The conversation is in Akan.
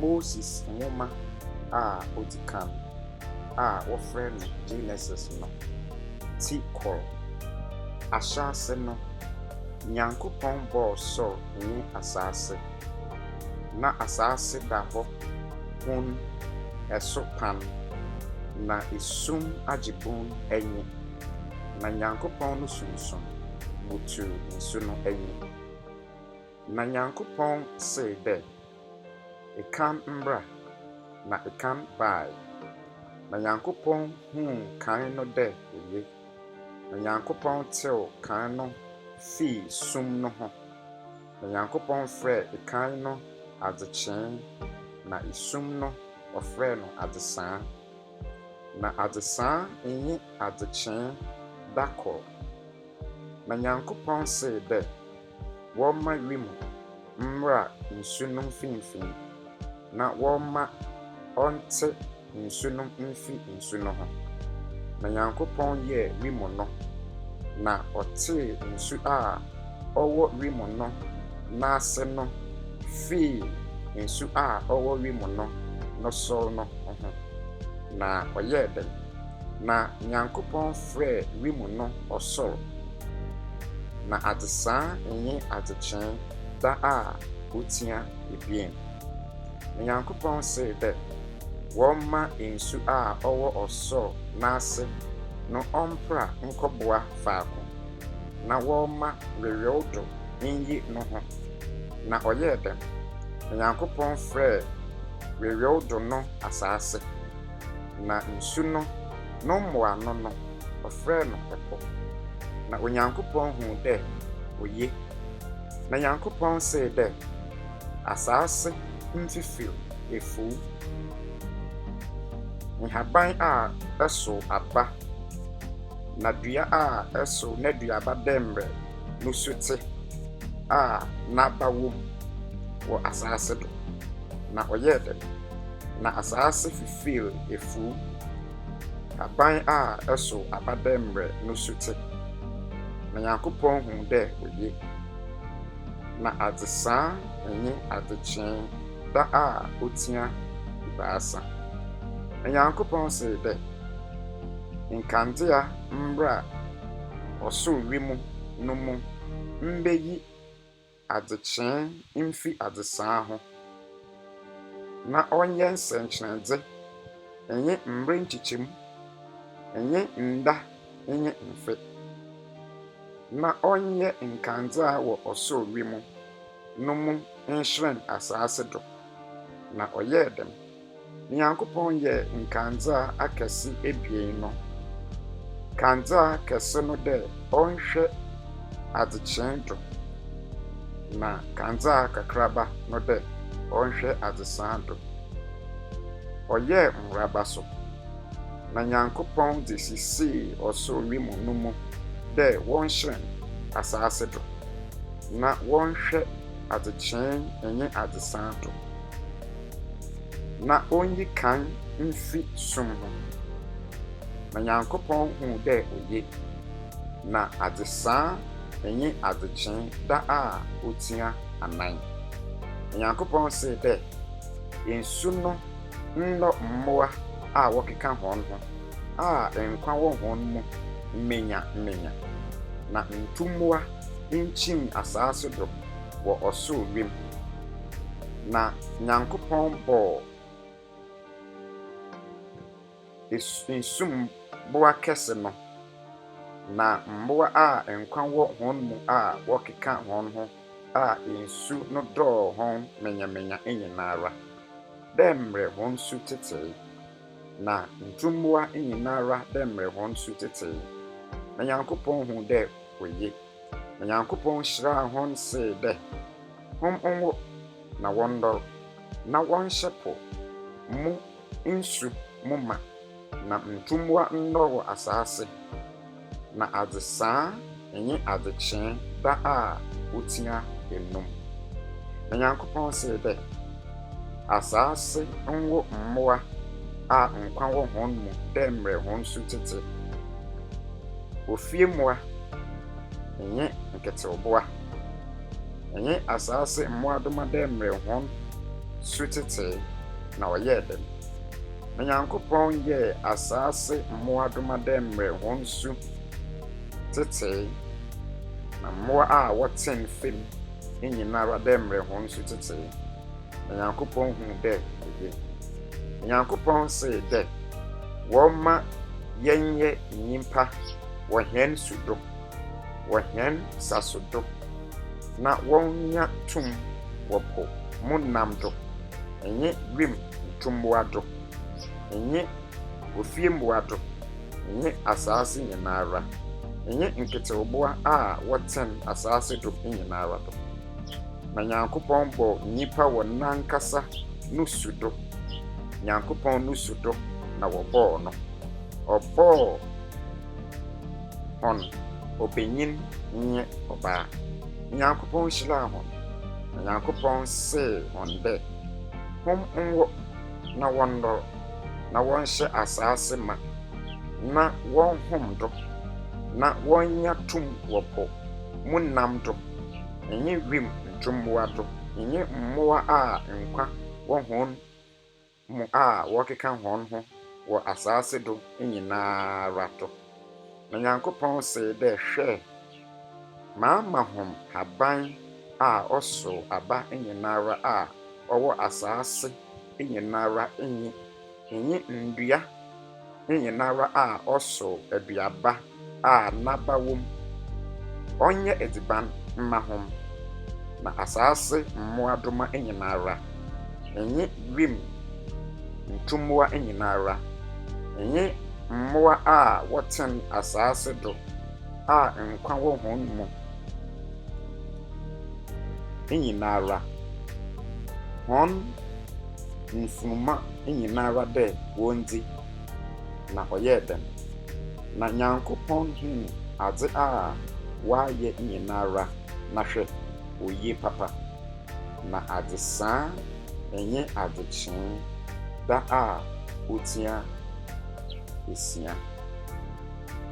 Moses nwoma a odzi kan a wɔfrɛ no Genesis no tse kor. Ahyɛase no, Nyankopɔn bɔɔ sor nye asaase. Nna asaase da hɔ hun, eso pan, na esum agye bun nye. na Nyankopɔn no Sunsum butuw nsu no enyi. Na Nyankopɔn see dɛ, Kan mbra, na kan bae. Na Nyankopɔn hun kan no dɛ oye, na Nyankopɔn tseew kan no fii sum no ho, na Nyankopɔn frɛɛ kan no adzekyee, na sum no ɔfrɛɛ no adzesaa. na adzesaa nnye adzekyee da kor. Na Nyankopɔn see dɛ wɔmma wimu mbra nsu no mfinimfin, na wɔmma ɔntse nsu no mfi nsu no ho. Na Nyankopɔn yɛɛ wimu no, na ɔtsee nsu a ɔwɔ wim no n'ase no fii nsu a ɔwɔ wim no no so no ho, na ɔyɛɛ dɛn? Na Nyankopɔn frɛɛ wim no ɔsor, na adzesaa nye adzekyee da a otsia ebien. Na Nyankopɔn see dɛ wɔmma nsu a ɔwɔ ɔsor n'ase no ɔmpra nkɔboa faako. na wɔremma weweewdo nnyi no ho. Na ɔyɛɛ dɛm. Onyankopɔn frɛɛ weweewdo no asaase, na nsu no no mboano no ɔfrɛɛ no po. Na Onyankopɔn hun dɛ oye. Na Nyankopɔn see dɛ, Asaase mfifir efuw, nhaban a ɛsow aba, na dua a ɛsow n'aduaba dɛmmerɛ no su te a n'aba wom wɔ asaase do, na ɔyɛɛ dɛ, na asaase fifeew efuw. Aban a ɛsow aba dɛmmerɛ no su te, na Nyankopɔn hun dɛ oye. Na adzesaa nye adzekyee da a otsia ebiasa. Na Nyankopɔn see dɛ. nkandzea mbra a ɔsor wimu no mu mbeyi adzekyee mfi adzesaa ho, na ɔnyɛ nsɛnkyerɛdze, nye mber nkyekyɛmu, nye nda nye mfe, na ɔnyɛ nkandzea wɔ ɔsor wimu no mu nhyerɛn asaase do. Na ɔyɛɛ dɛm. Nyankopɔn yɛɛ nkandzea akɛse ebien no, kandzea kɛse no dɛ ɔnhwɛ adzekyee do, na kandzea kakraba no dɛ ɔnhwɛ adzesaa do. Ɔyɛɛ nworaba so, na Nyankopɔn dze sisii ɔsor wimu no mu dɛ wɔnhyerɛn asaase do, na wɔnhwɛ adzekyee nye adzesaa do. na onyi kan mfi sum no mu. Na Nyankopɔn hu dɛ oye, na adzesaa nye adzekyee da a otsia anan. Na Nyankopɔn see dɛ, Nsu no ndɔ mbowa a wɔkeka hɔnho a nkwa wɔ hɔn mu mbenya mbenya, na ntumbowa nkyim asaase do wɔ ɔsor wimu na Nyankopɔn bɔɔ nsumbowa kɛse no, na mbowa a nkwa wɔ hɔn mu a wɔkekã hɔnho a nsu no dɔɔ hɔn menyamenya nyinara, dɛ mbrɛ hɔn su tsetsee, na ntumbowa nyinara dɛ mbrɛ hɔn su tsetsee, na Nyankopɔn hun dɛ oye. Na Nyankopɔn hyiraa hɔn see dɛ, Hom nwo na wɔndɔr, na wɔnhyɛ po mu nsu mu mã, na ntumbowa ndɔr wɔ asaase, na adzesaa nye adzekyee da a otsia enum. Na Nyankopɔn see dɛ, Asaase nwo mbowa a nkwa wɔ hɔn mu dɛ mbrɛ hɔn su tsetse, ofie mbowa, nye nketsewbowa, nye asaase mbowadoma dɛ mbrɛ hɔn su tsetse na ɔyɛɛ dɛm. Na Nyankopɔn yɛɛ asaase mbowadoma dɛ mbrɛ hɔn su tsetse, na mbowa a wɔtsen famu nyinara dɛ mbrɛ hɔn su tsetse, na Nyankopɔn hun dɛ ɔye. Na Nyankopɔn see dɛ, Wɔmma yɛnyɛ nyimpa wɔ hɛn su do, wɔ hɛn saso do, na wɔnya tum wɔ po mu nam do, nye wimu ntumbowa do, nye ofiembowa do, nye asaase nyinara, nye nketsewbowa a wɔtsen asaase do nyinara do. Na Nyankopɔn bɔɔ nyimpa wɔ nankasa no su do, Nyankopɔn no su do na wɔbɔɔ no, ɔbɔɔ. hɔn, ɔbanyin nye ɔbaa. Nyankopɔn hyiraa hɔn, na Nyankopɔn see hɔn dɛ, Hom nwɔ na wɔndɔr, na wɔnhyɛ asaase mã, na wɔnhom do, na wɔnya tum wɔ po mu nam do, nye wimu ntumbowa do, nye mbowa a nkwa wɔ hɔn mu a wɔkeka hɔnho wɔ asaase do nyinara to. Na Nyankopɔn see dɛ, Hwɛ, maama hom haban a ɔsow aba nyinara a ɔwɔ asaase nyinara nye nye ndua, nyina ara a ɔsow eduaba a n'aba wɔ mu, ɔnyɛ edziban mma hom, na asaase mmoadoma nyina ara, nye wimu ntumbowa nyina ara, nye mbowa a wɔtsen asaase do a nkwa wɔ hɔn mu nyina ara, hɔn. mfunuma nyinara dɛ wondzi, na ɔyɛɛ dɛm. Na Nyankopɔn hun adze a wɔayɛ nyinara na hwɛ, oye papa, na adzesaa nye adzekyee da a otsia esia.